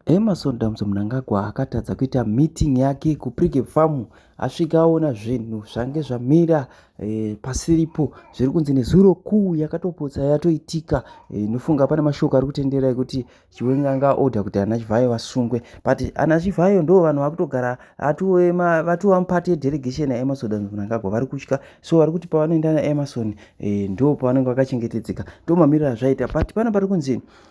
Emerson Damso Mnangagwa akatadza kuita meeting yake kuPrige Farm asvika aona zvinhu zvange zvamira e, pasiripo zviri kunzi nezuro kuu yakatopotsa yatoitika eh, inofunga e, pane mashoko ari kutendera ekuti chiwenga anga order kuti ana chivhayo vasungwe but ana chivhayo ndo vanhu vakutogara vatova mupati yedelegation yaemerson Damso Mnangagwa vari kutya so vari kuti pavanoenda naemerson e, eh, ndo pavanenge vakachengetedzeka ndo mamiriro azvaita but pana pari kunzi e,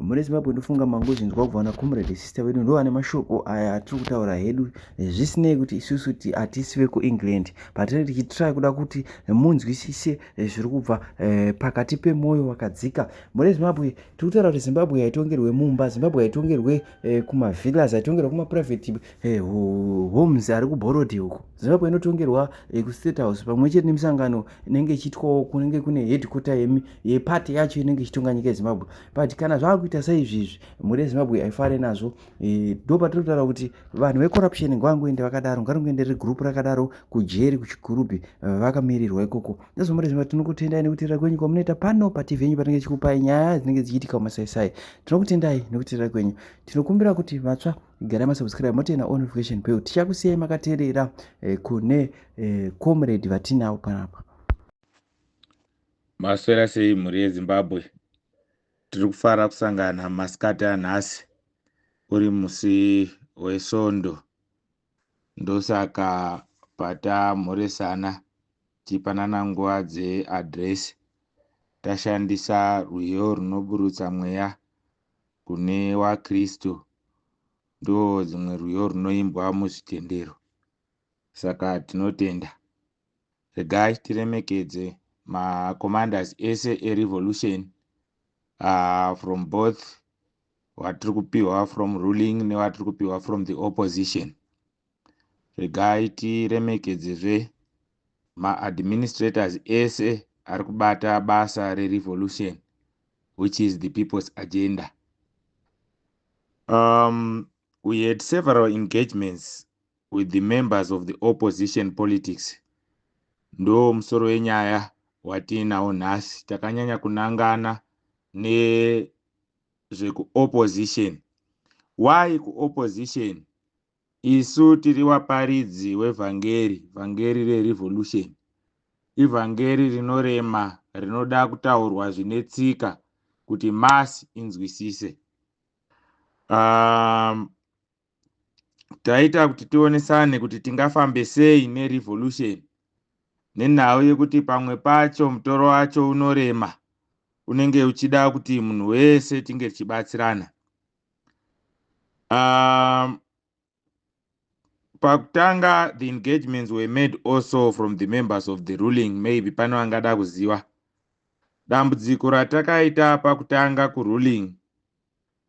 mune zimbabwe ndofunga mangozvinzwa kubva na comrade sister vedu ndo vane mashoko aya atiri kutaura hedu zvisinei kuti isusu ti hatisi vekuengland patine tichitry kuda kuti munzwisise eh, zviri kubva eh, pakati pemwoyo wakadzika mune zimbabwe tiri kutaura kuti zimbabwe haitongerwe mumba zimbabwe haitongerwe eh, kumavillas haitongerwe kumaprivate homes ari kuborodhi uko zimbabwe inotongerwa eh, kustate house pamwe chete nemisangano inenge ichiitwawo kunenge kune headquarter yemi yepati yacho inenge ichitonga nyika yezimbabwe but kana zvaakuita saizvi izvi mhuri yezimbabwe haifare nazvo eh, ndo patiri kutaura kuti vanhu vecorruption ngavangoende vakadaro ngaringoende ri group rakadaro kujeri kuchigurubhi eh, vakamirirwa ikoko nezvo mhuri yezimbabwe tinokutendai nekutirira kwenyu kwamunoita pano pati venyu patinenge tichikupai nyaya dzinenge dzichiitika mumasaisai tinokutendai nekutirira kwenyu tinokumbira kuti vatsva gara masubscribe motena all notification bell tichakusiyai makaterera eh, kune eh, comrade vatinawo panapa maswera sei mhuri yezimbabwe tiri kufara kusangana masikati anhasi uri musi wesvondo ndosaka patamhoresana tichipanana nguva dzeadresi tashandisa rwiyo runoburutsa mweya kune waKristu ndo dzimwe rwiyo rwunoimbwa muzvitendero saka tinotenda. Regai tiremekedze ma commanders ese e revolution uh, from both watiri kupiwa from ruling newatiri kupiwa from the opposition. Regai tiremekedzezve ma administrators ese ari kubata basa re revolution which is the people's agenda. Um, we had several engagements with the members of the opposition politics. Ndo musoro wenyaya watiinawo nhasi takanyanya kunangana nezvekuopposition. Why kuopposition? Isu tiri waparidzi wevhangeri, vhangeri reRevolution. Ivhangeri rinorema rinoda kutaurwa zvine tsika kuti mass inzwisise. Um, taita kuti tionesane kuti tingafambe sei neRevolution nenhau yekuti pamwe pacho mutoro wacho unorema unenge uchida kuti munhu wese tinge tichibatsirana. um, pakutanga the engagements were made also from the members of the ruling maybe pano angada kuziva dambudziko ratakaita pakutanga kuruling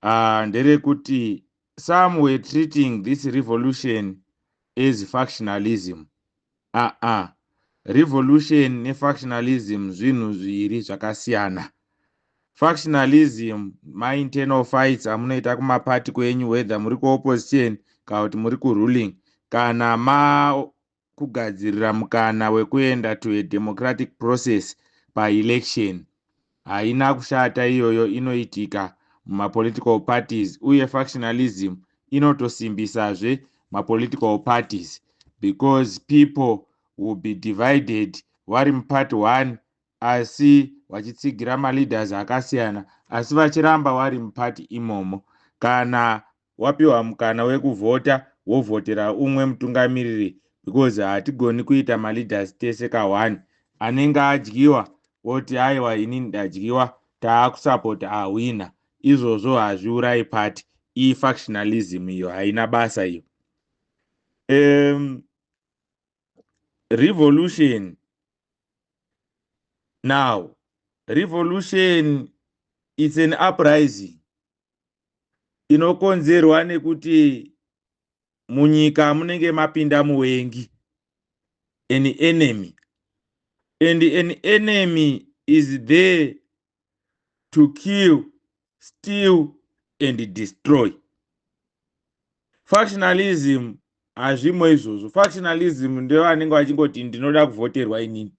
uh, nderekuti some were treating this revolution as factionalism Aa revolution ne factionalism zvinhu zviri zvakasiyana. Factionalism ma internal fights amunoita kuma party kwenyu whether muri ku opposition kana kuti muri ku ruling kana ma kugadzirira mukana wekuenda to a democratic process pa election. Haina kushata iyoyo inoitika muma political parties uye factionalism inotosimbisazve ma political parties because people will be divided vari muparty one asi vachitsigira maleaders akasiyana asi vachiramba vari muparty imomo kana wapiwa mukana wekuvhota wovhotera umwe mutungamiriri because hatigoni kuita maleaders tese ka one anenge adyiwa woti aiwa ini ndadyiwa taakusapota ahwina izvozvo hazviurayi party iyi factionalism iyo haina basa iyo um, revolution now revolution it's an uprising inokonzerwa nekuti munyika munenge mapinda muvengi an enemy and an enemy is there to kill steal and destroy factionalism hazvimo izvozvo factionalism ndevanenge vachingoti ndinoda kuvhoterwa inini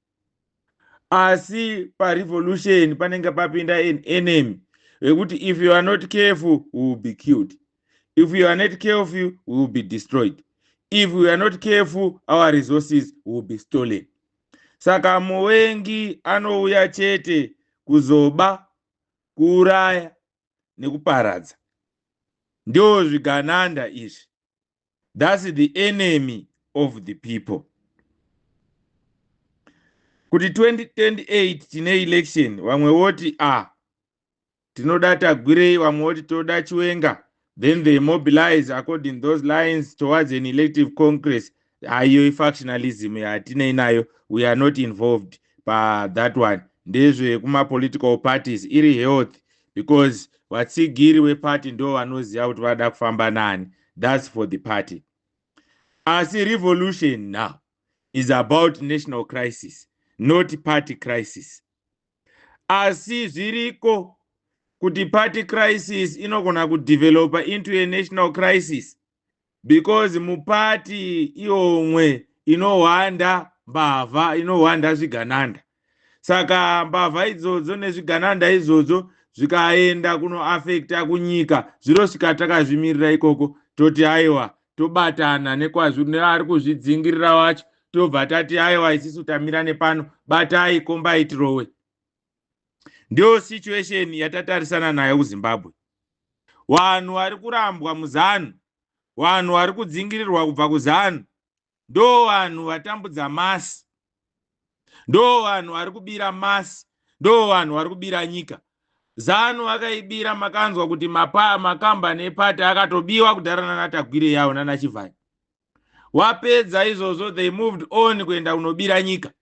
asi parevolution panenge papinda an enemy vekuti if you are not careful we will be killed if you are not careful we will be destroyed if we are not careful our resources will be stolen saka muvengi anouya chete kuzoba kuuraya nekuparadza ndio zvigananda izvi thats the enemy of the people kuti 2028 tine election vamwe voti a ah, tinoda tagwirei vamwe voti toda chiwenga then they mobilize according those lines towards an elective congress haiyo ifactionalism yatinei nayo we are not involved pathat one ndezvekumapolitical parties iri health because vatsigiri weparty ndo vanoziva kuti vada kufamba nani thats for the party asi revolution now is about national crisis not party crisis asi zviriko kuti party crisis inogona kudevelopa into a national crisis because mupati iomwe inohwanda mbavha inohwanda zvigananda saka mbavha idzodzo nezvigananda izvodzo zvikaenda kunoafekta kunyika zvinosvika takazvimirira ikoko toti aiwa tobatana nekwazviri neari kuzvidzingirira wacho tobva tati aiwa isisu tamira nepano batai kombai tirowe ndiyo situation yatatarisana nayo kuzimbabwe vanhu vari kurambwa muzanu vanhu vari kudzingirirwa kubva kuzanu ndo vanhu vatambudza masi ndo vanhu vari kubira masi ndo vanhu vari kubira nyika zanu vakaibira makanzwa kuti makambani epati akatobiwa kudhara nanatagwire yavo nanachivhani wapedza izvozvo they moved on kuenda kunobira nyika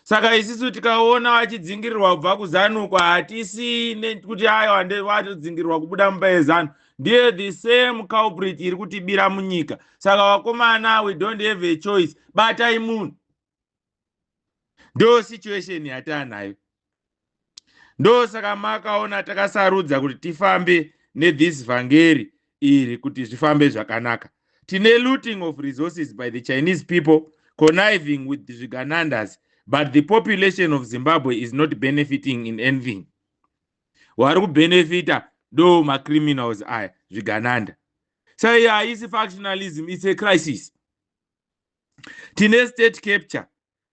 saka isisu tikaona vachidzingirirwa kubva kuzanuko hatisi ne- kuti ayo hande- vatodzingirirwa kubuda mumba yezanu ndiye the same culprit iri kutibira munyika saka vakomana we don't have a choice batai munhu ndo situation yataanayo ndosaka makaona takasarudza kuti tifambe nethis vhangeri iri kuti zvifambe zvakanaka tine looting of resources by the chinese people conniving with zviganandas but the population of zimbabwe is not benefiting in anything wari kubenefita ndo macriminals aya zvigananda so iyo haisi factionalism its a crisis tine state capture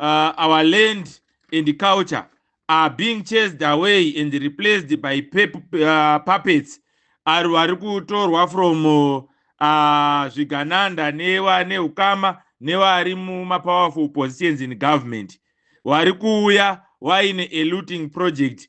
uh, our land and culture are being chased away and replaced by uh, puppets ari vari kutorwa from uh, zvigananda newa neukama nevari mumapowerful positions in government wari kuuya waine a looting project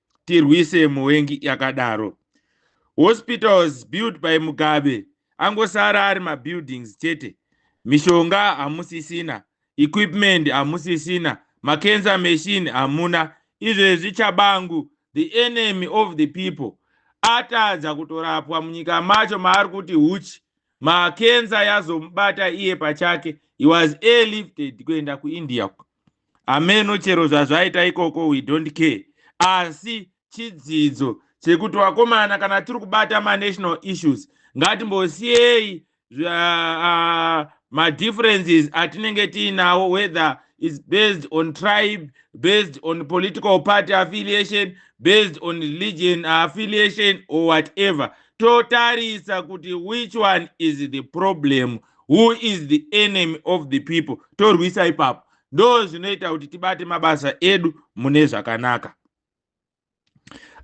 tirwise muvengi yakadaro hospitals built by mugabe angosara ari mabuildings chete mishonga hamusisina equipment hamusisina macancer machine hamuna izvezvi chabangu the enemy of the people atadza kutorapwa munyika macho maari kuti huchi makenza yazomubata iye pachake he was airlifted kuenda kuindia ameno chero zvazvaita ikoko we don't care asi chidzidzo chekuti vakomana kana tiri kubata manational issues ngatimbosiyei uh, madifferences atinenge tiinawo whether is based on tribe based on political party affiliation based on religion affiliation or whatever totarisa kuti which one is the problem who is the enemy of the people torwisa ipapo ndo zvinoita kuti tibate mabasa edu mune zvakanaka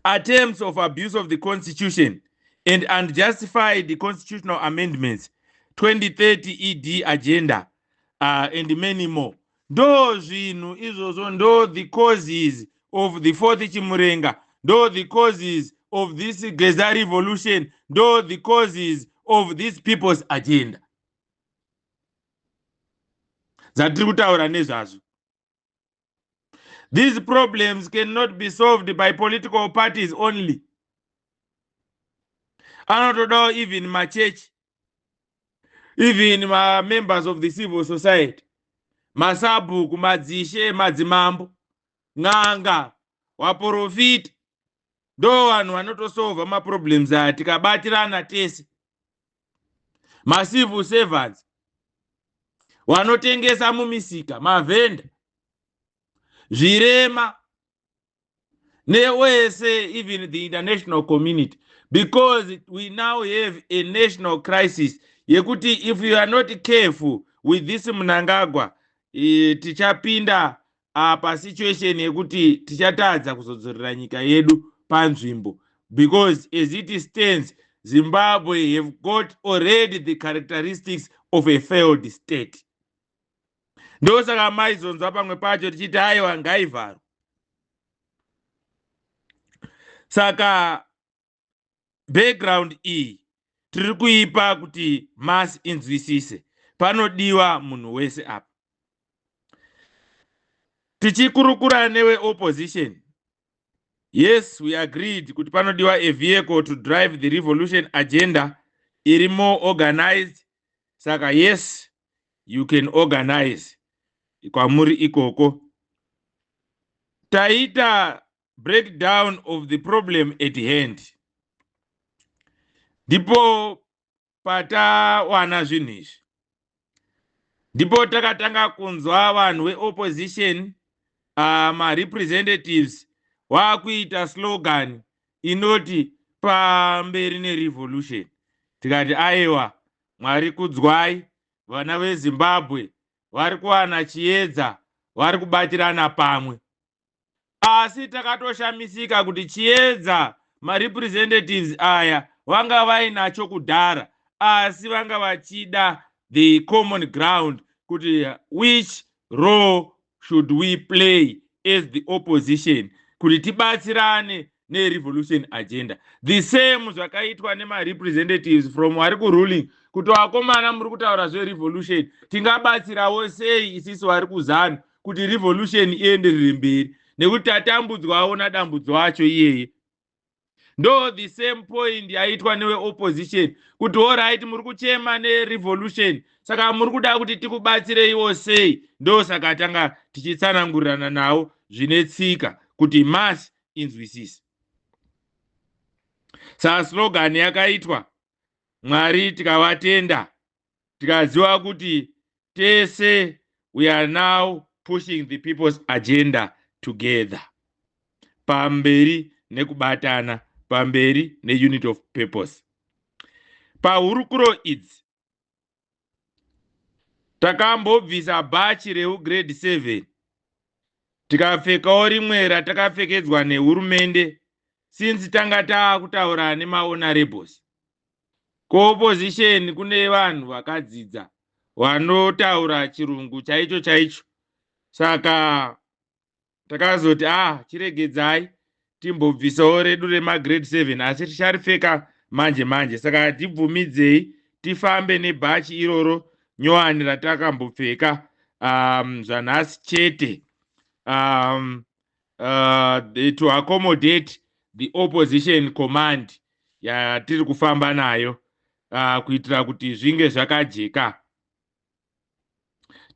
attempts of abuse of the constitution and unjustified the constitutional amendments 2030 ed agenda uh, and many more Ndoo zvinhu izvozvo ndoo the causes of the fourth chimurenga ndoo the causes of this geza revolution ndoo the causes of this people's agenda dzatiri kutaura nezvazvo these problems cannot be solved by political parties only anotodawo even machechi even mamembers of the civil society masabhuku madzishe madzimambo n'anga waporofita ndo vanhu vanotosova maproblems aya tikabatirana tese macivil servants vanotengesa mumisika mavhenda zvirema neosa even the international community because we now have a national crisis yekuti if you are not careful with this munangagwa e, tichapinda uh, pasituation yekuti tichatadza kuzodzorera nyika yedu panzvimbo because as it stands zimbabwe have got already the characteristics of a failed state ndosaka maizonzwa pamwe pacho tichiti aiwa ngaivharwa saka background iyi tiri kuipa kuti masi inzwisise panodiwa munhu wese apa tichikurukura newe opposition yes we agreed kuti panodiwa a vehicle to drive the revolution agenda iri more organized saka yes you can organize kwamuri ikoko taita breakdown of the problem at hand ndipo patawana zvinhu izvi ndipo takatanga kunzwa vanhu veopposition uh, marepresentatives waakuita slogan inoti pamberi nerevolution tikati aiwa Mwari kudzwai, vana veZimbabwe vari kuwana chiedza, vari kubatirana pamwe. Asi takatoshamisika kuti chiedza marepresentatives aya vanga vainacho kudhara asi vanga vachida the common ground kuti which role should we play as the opposition kuti tibatsirane nerevolution agenda the same zvakaitwa nemarepresentatives from vari kuruling kuti vakomana muri kutaura zverevolution tingabatsirawo sei isisi vari kuzanu kuti revolution ienderere mberi nekuti tatambudzwawo nadambudzo acho iyeye ndo the same point yaitwa neweopposition kuti horit muri kuchema nerevolution saka muri kuda kuti tikubatsireiwo sei ndo saka tanga tichitsanangurirana nawo zvine tsika kuti mas inzwisise saslogan yakaitwa mwari tikavatenda tikaziva kuti tese we are now pushing the people's agenda together pamberi nekubatana pamberi neunit of purpose pahurukuro idzi takambobvisa bhachi reugrade 7 tikapfekawo rimwe ratakapfekedzwa nehurumende since tanga taakutaura nemaonarebles kuopposition kune vanhu vakadzidza vanotaura chirungu chaicho chaicho saka takazoti ah chiregedzai timbobvisawo redu remagrade seven asi ticharipfeka manje manje saka tibvumidzei tifambe nebhachi iroro nyowani ratakambopfeka um, zvanhasi chete um, uh, to accommodate the opposition command yatiri kufamba nayo uh, kuitira kuti zvinge zvakajeka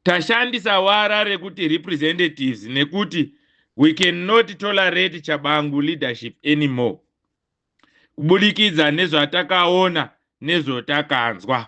tashandisa wara rekuti representatives nekuti we cannot tolerate chabangu leadership anymore kubudikidza nezvatakaona nezvotakanzwa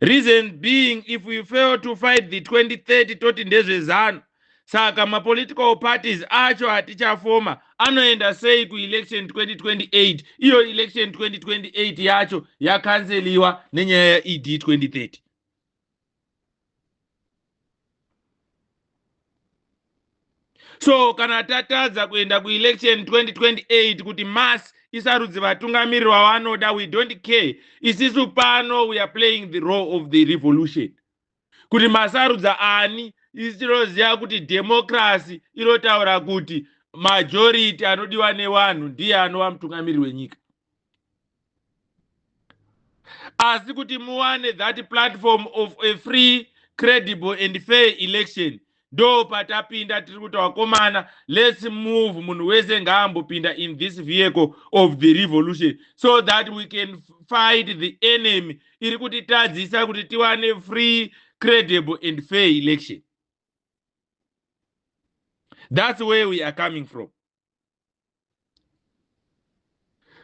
reason being if we fail to fight the 2030 toti ndezvezanu saka mapolitical parties acho atichafoma anoenda sei kuelection 2028 iyo election 2028 yacho yakanseliwa nenyaya yeed 2030 so kana tatadza kuenda kuelection 2028 kuti mass isarudzi vatungamiriri vavanoda we don't care isisu pano we are playing the role of the revolution kuti masarudza ani isi tinoziva kuti democracy inotaura kuti majority anodiwa nevanhu ndiye anova mutungamiriri wenyika asi kuti muwane that platform of a free credible and fair election ndo patapinda tiri kuti wakomana let's move munhu wese ngaambopinda in this vehicle of the revolution so that we can fight the enemy iri kutitadzisa kuti tiwane free credible and fair election that's where we are coming from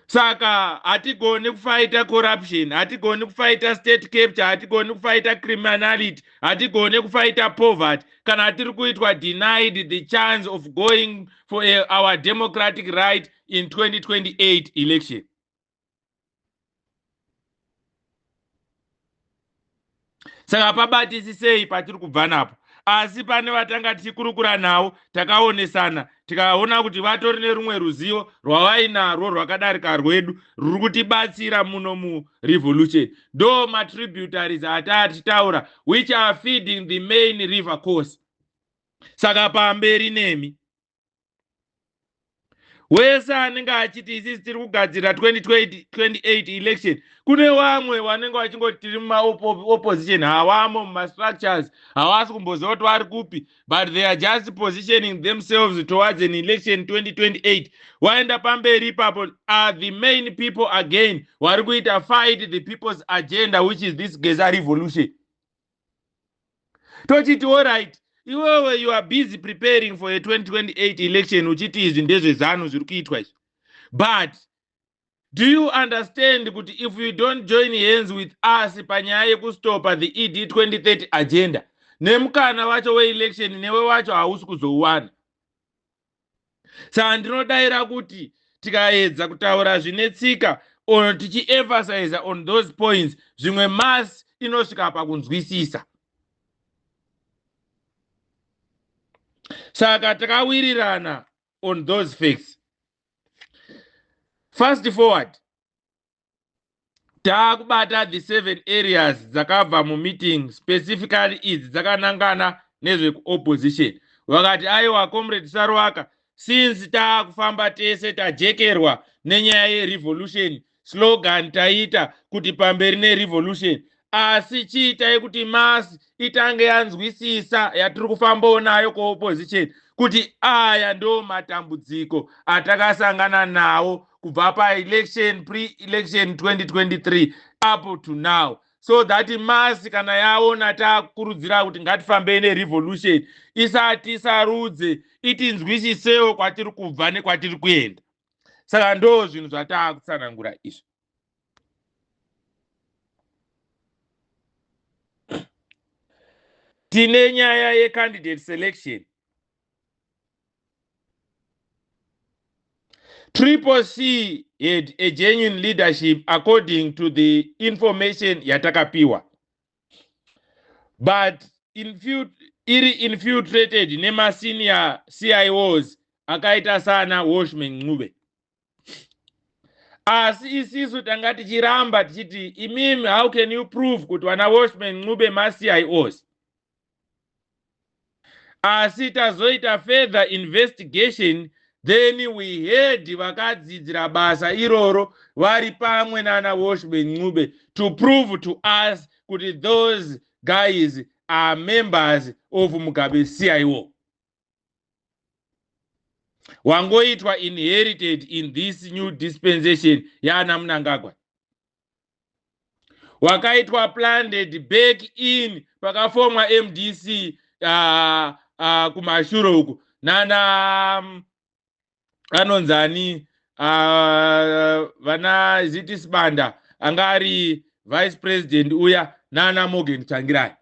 saka hatigoni kufaita corruption hatigoni kufaita state capture hatigoni kufaita criminality hatigoni kufaita poverty kana tiri kuitwa denied the chance of going for a, our democratic right in 2028 election saka pabatisisei patiri kubva napo asi pane vatanga tichikurukura navo takaonesana tikaona kuti vatori nerumwe ruzivo rwavainarwo rwakadarika rwedu ruri kutibatsira muno murevolution do matributaries ataa tichitaura which are feeding the main river course saka pamberi nemi wese anenge achiti isisi tiri kugadzirira 2028 election kune vamwe vanenge vachingoti tiri mumaopposition hawamo mumastructures hawasi kumboziva kuti vari kupi but they are just positioning themselves towards an election 2028 waenda pamberi ipapo are the main people again vari kuita fight the people's agenda which is this geza revolution tochiti orit iwewe you are busy preparing for a 2028 election uchiti izvi ndezvezanu zviri kuitwa izvi but do you understand kuti if you don't join hands with us panyaya yekustopa the ed 2030 agenda nemukana wacho weelection newe wacho hausi kuzouwana saka ndinodaira kuti tikaedza kutaura zvine tsika or tichiemphasiza on those points zvimwe mas inosvika pakunzwisisa saka takawirirana on those facts fast forward taakubata the seven areas dzakabva mumeeting specifically idzi dzakanangana nezvekuopposition vakati aiwa comrade saruaka since taakufamba tese tajekerwa nenyaya yerevolution slogan taita kuti pamberi nerevolution asi chiitai kuti masi itange yanzwisisa yatiri kufambawo nayo kuopposition kuti aya ndo matambudziko atakasangana nawo kubva paelection pre-election 2023 apo to now so that masi kana yaona takurudzira kuti ngatifambei nerevolution isati sarudze itinzwisisewo kwatiri kubva nekwatiri kuenda saka ndo zvinhu zvatakutsanangura izvi tine nyaya yecandidate selection triple c had a genuine leadership according to the information yatakapiwa but infut iri infiltrated nemasenior cios akaita sana washman ncube asi isisu tanga tichiramba tichiti imimi how can you prove kuti vana washman ncube macios asi tazoita further investigation then we heard vakadzidzira basa iroro vari pamwe nana washman ncube to prove to us kuti those guys are members of mugabe cio wangoitwa inherited in this new dispensation yaana munangagwa wakaitwa planted back in pakafomwa mdc uh, ah, uh, ah, kumashuro uku nana um, anonzi ani ah, vana uh, ziti sibanda anga ari vice president uya nana morgan tsvangirai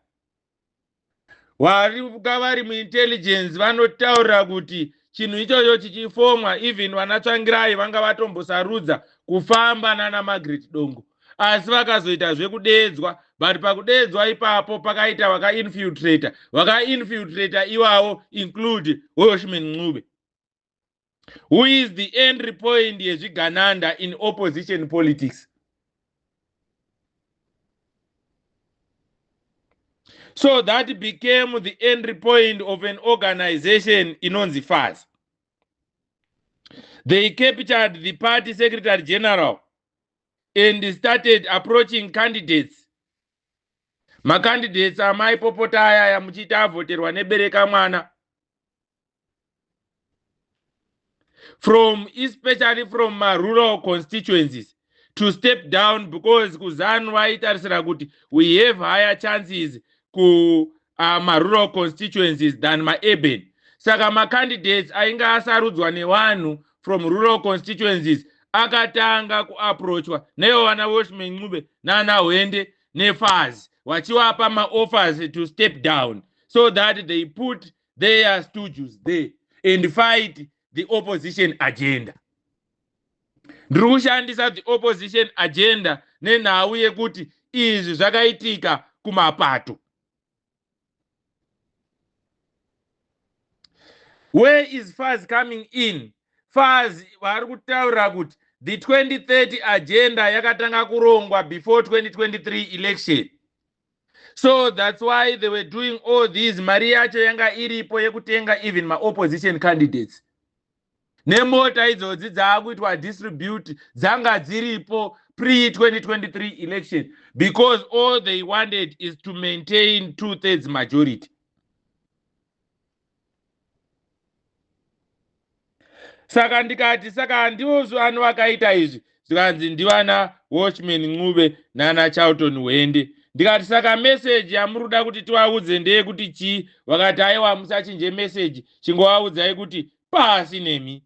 wari ka vari muintelligence vanotaura kuti chinhu ichocho chichifomwa even vana tsvangirai vanga vatombosarudza kufamba nana magret dongo asi vakazoita zvekudeedzwa but pakudeedzwa ipapo pakaita vakainfiltrator vakainfiltrator iwawo include hoshman ncube who is the entry point yezvigananda in opposition politics so that became the entry point of an organization inonzi faz they captured the party secretary general and started approaching candidates macandidates amai popota ayaya muchiita avhoterwa nebereka mwana from especially from marural constituencies to step down because kuzanu vaitarisira kuti we have higher chances ku uh, marural constituencies than maurban saka macandidates ainge asarudzwa nevanhu from rural constituencies akatanga kuaproachwa naivo vana washman ncube nana hwende nefaz vachiwapa maoffers to step down so that they put their studios there and fight the opposition agenda ndiri kushandisa the opposition agenda nenhau yekuti izvi zvakaitika kumapato where is faz coming in faz vari kutaura kuti the 2030 agenda yakatanga kurongwa before 2023 election so that's why they were doing all these mari yacho yanga iripo yekutenga even maopposition candidates nemota idzodzi dzaakuitwa distribute dzanga dziripo pre 2023 election because all they wanted is to maintain two thirds majority saka ndikati saka ndivo vanhu vakaita izvi zvikanzi ndivana watchman ncube nana charlton hwende ndikati saka meseji yamuri kuda kuti tivaudze ndeyekuti chii vakati aiwa musachinje meseji chingovaudzai kuti pasi nemi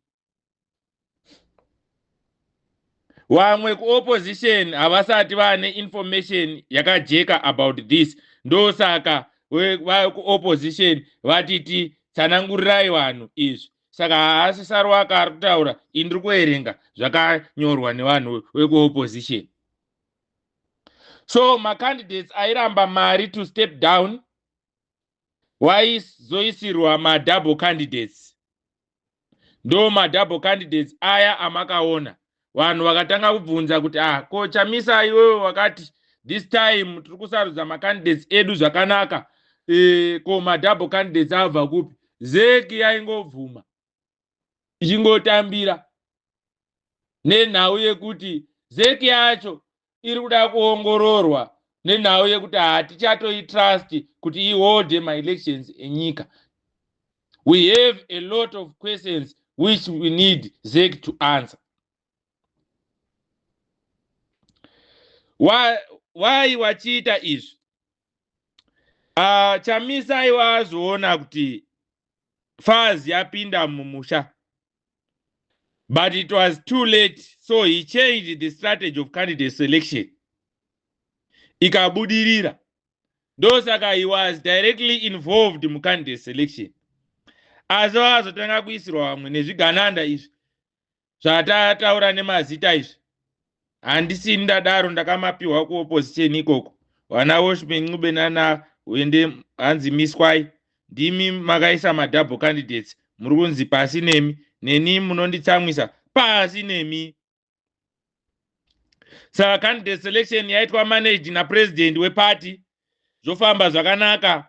vamwe kuopposition havasati vane information yakajeka about this ndosaka vekuopposition vatiti tsanangurirai vanhu izvi saka haasi sarwaka ari kutaura ini ndiri kuerenga zvakanyorwa nevanhu vekuopposition so macandidates airamba mari to step down waizoisirwa madouble candidates ndo madouble candidates aya amakaona vanhu vakatanga kubvunza kuti ah ko chamisa iwewe wakati this time tiri kusarudza macandidates edu zvakanaka e, ko madouble candidates abva kupi zeki yaingobvuma ichingotambira nenhau yekuti zeki yacho iri kuda kuongororwa nenhau yekuti hatichatoitrust kuti iholde maelections enyika we have a lot of questions which we need zec to answer why, why wachiita izvi uh, chamisa aiwa azoona kuti faz yapinda mumusha But it was too late, so he changed the strategy of candidate selection. Ikabudirira. Ndosaka he was directly involved mu candidate selection. Asi vakazotanga kuisirwa vamwe nezvigananda izvi zvatataura nemazita izvi. handisi ndadaro ndakamapiwa kuopposition ikoko vana woshman ncube nana uende hanzi miswai ndimi makaisa madouble candidates muri kunzi pasi nemi neni munonditsamwisa pasi nemi saka candidate selection yaitwa managed napresident weparty zvofamba zvakanaka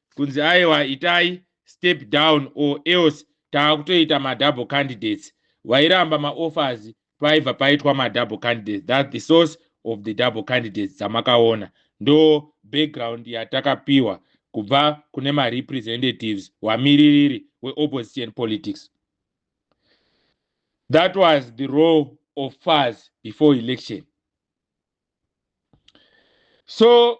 kunzi aiwa itai step down or else taakutoita madouble candidates vairamba maoffers paibva paitwa madouble candidates that the source of the double candidates dzamakaona ndo background yatakapiwa kubva kune marepresentatives wamiririri weopposition politics that was the role of fars before election so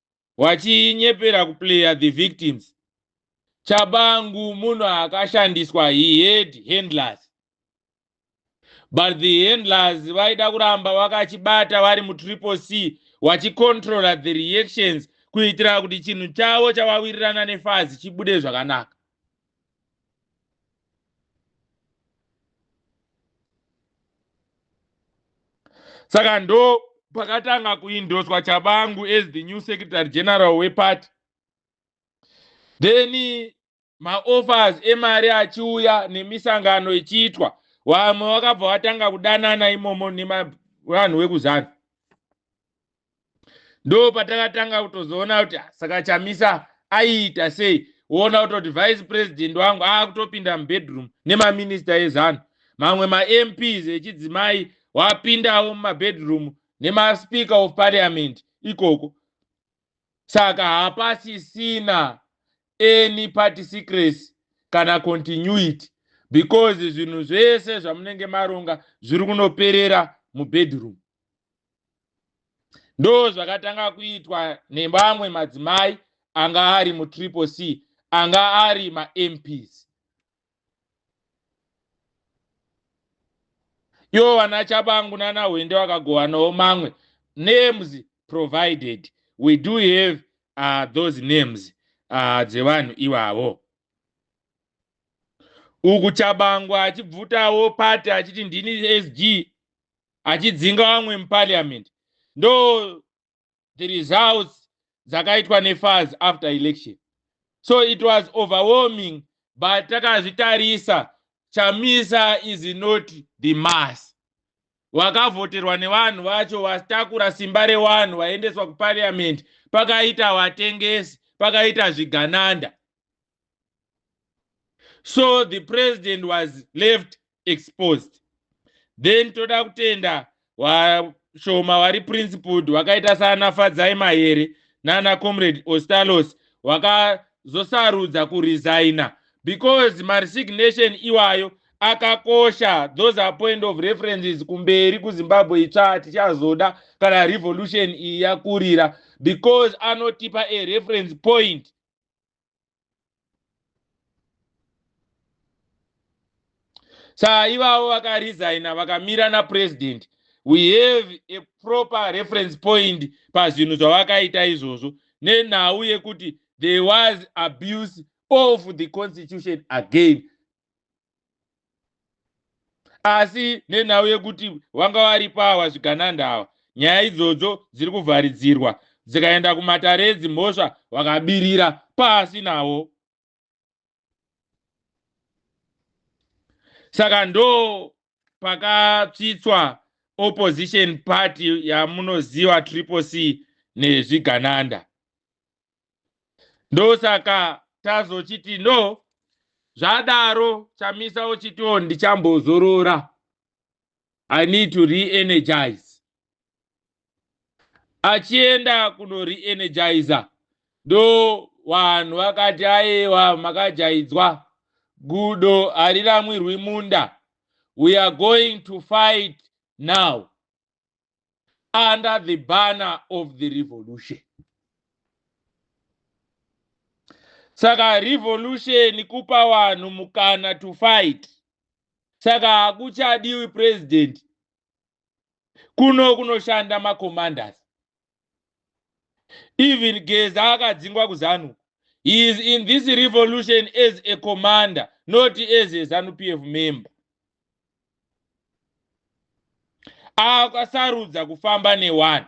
wachinyepera kuplayer the victims chabangu munhu akashandiswa he had handlers but the handlers vaida kuramba vakachibata vari mutriple c wachicontrola the reactions kuitira kuti chinhu chavo chavawirirana nefazi chibude zvakanaka saka ndo pakatanga kuindoswa chabangu as the new secretary general weparty then maoffers emari achiuya nemisangano ichiitwa vamwe vakabva vatanga kudanana imomo nevanhu vekuzanu ndo patakatanga kutozoona kuti ah, saka chamisa aiita sei woona kutoti vice president wangu aakutopinda mubedroom nemaminista ezanu mamwe mamps echidzimai wapindawo mumabedroom nemaspeaker of parliament ikoko saka hapasisina any party secrecy kana continuity because zvinhu zvese zvamunenge maronga zviri kunoperera mubedroom ndo zvakatanga kuitwa nevamwe madzimai anga ari mutriple c anga ari mamps iwo vana chabangu nana hwende vakagowanawo mamwe names provided we do have uh, those names uh, dzevanhu ivavo uku chabangu achibvutawo pati achiti ndini sg achidzinga vamwe muparliament ndo the results dzakaitwa nefaz after election so it was overwhelming but takazvitarisa chamisa is not the mass vakavhoterwa nevanhu vacho vatakura simba rewanhu vaendeswa kuparliament pakaita vatengesi pakaita zvigananda so the president was left exposed then toda kutenda washoma wari principled wakaita saana fadzai mahere naana comrade ostalos wakazosarudza kuresigna because maresignation iwayo akakosha those are point of references kumberi kuzimbabwe itsva tichazoda kana revolution iyi yakurira because anotipa a reference point saa ivavo vakaresigna vakamira napresident we have a proper reference point pazvinhu zvavakaita izvozvo nenhau yekuti there was abuse of the constitution again asi nenhau yekuti vanga varipo awa zvigananda awa nyaya idzodzo dziri kuvharidzirwa dzikaenda kumatare edzimhosva vakabirira pasi navo saka ndo pakatsvitswa opposition party yamunoziva triple c nezvigananda ndosaka tazochiti no zvadaro chamisa ochitiwo oh, ndichambozorora i need to reenergize achienda kuno reenergizer ndo vanhu vakati aiwa makajaidzwa gudo hariramwirwi munda we are going to fight now under the banner of the revolution saka revolution kupa vanhu mukana to fight saka hakuchadiwi president kuno kunoshanda macommanders even geza akadzingwa kuzanu he is in this revolution as a commander not as a zanu p f member akasarudza kufamba newani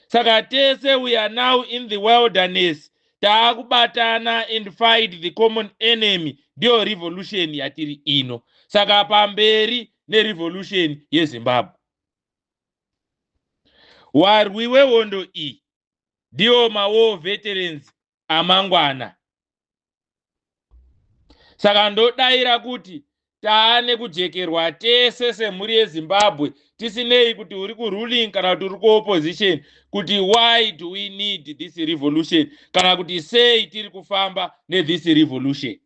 saka tese we are now in the wilderness taakubatana and fight the common enemy ndiyo revolution yatiri ino saka pamberi nerevolution yezimbabwe Warwi wehondo iyi ndiwo mawar veterans amangwana. Saka ndodaira kuti taane kujekerwa tese semhuri yezimbabwe tisinei kuti uri kuruling kana kuti uri kuopposition kuti why do we need this revolution kana kuti sei tiri kufamba nethis revolution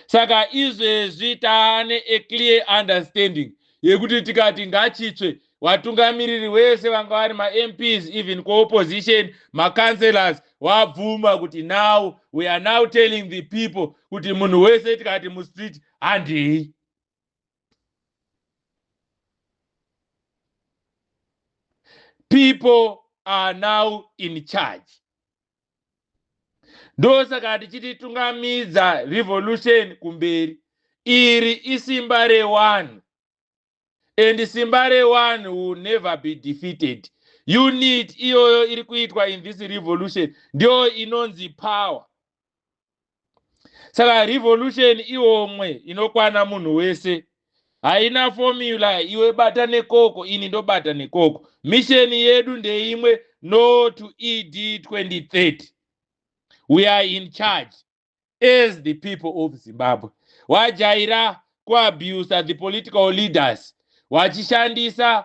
saka izvezvi taane a clear understanding yekuti tikati ngachitsve watungamiriri wese vanga vari mamps even kuopposition macancelors wabvuma kuti now we are now telling the people kuti munhu wese tikati mustreet handei people are now in charge ndosaka tichiti tungamidza revolution kumberi iri isimba rewanhu and simba rewanhu will never be defeated unit iyoyo iri kuitwa in this revolution ndiyo inonzi power saka revolution iomwe inokwana munhu wese haina formula iwe bata nekoko ini ndobata nekoko misheni yedu ndeimwe no to ed 2030 we are in charge as the people of zimbabwe wajaira kuabusa the political leaders wachishandisa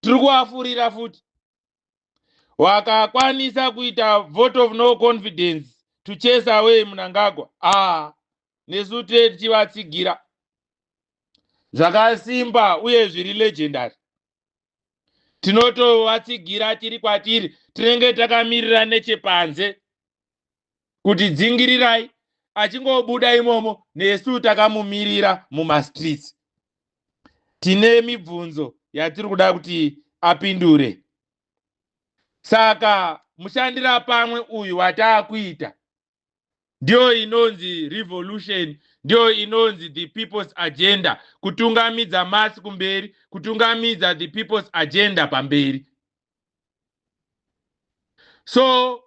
tiri kuafurira futi wakakwanisa kuita vote of no confidence to chase away munangagwa a ah, nesu tee tichivatsigira zvakasimba uye zviri legendary tinotovatsigira tiri kwatiri tinenge takamirira nechepanze kuti dzingirirai achingobuda imomo nesu takamumirira mumastreets tine mibvunzo yatiri kuda kuti apindure saka mushandira pamwe uyu wataakuita ndiyo inonzi revolution ndiyo inonzi the people's agenda kutungamidza masi kumberi kutungamidza the people's agenda pamberi so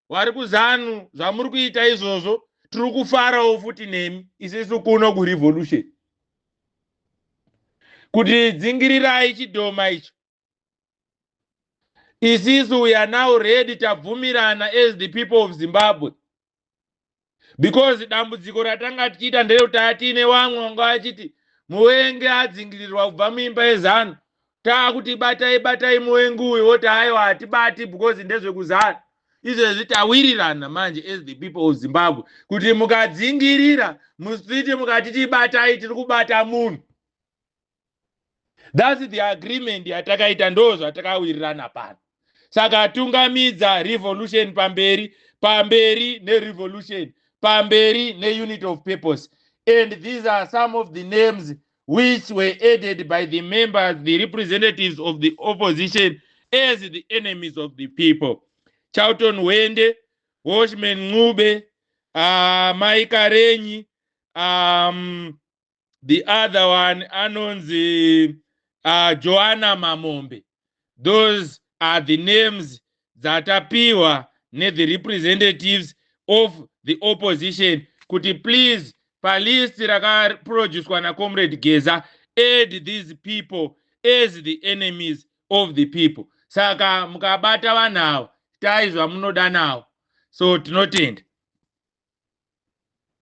vari kuzanu zvamuri kuita izvozvo tiri kufarawo futi nemi isisu kuno kurevolution kuti dzingirirai chidhoma icho isisu we are now ready tabvumirana as the people of zimbabwe because dambudziko ratanga tichiita nderekuti tanga tiine vamwe vanga vachiti muvengi adzingirirwa kubva muimba yezanu taakuti batai batai muvengi uyu voti aiwa hatibati because ndezvekuzanu izvezvi tawirirana manje as the people of zimbabwe kuti mukadzingirira mustreet mukati tibatai tiri kubata munhu thats the agreement yatakaita ndo zvatakawirirana pano saka tungamidza revolution pamberi pamberi nerevolution pamberi neunit of purpose and these are some of the names which were added by the members the representatives of the opposition as the enemies of the people charlton hwende washman ncube uh, ah, maikarenyi um, the other one anonzi uh, joana mamombe those are the names dzatapiwa nethe representatives of the opposition kuti please palist rakaproducwa nacomrade geza add these people as the enemies of the people saka mukabata vanhu ava tai zvamunoda nawo so tinotenda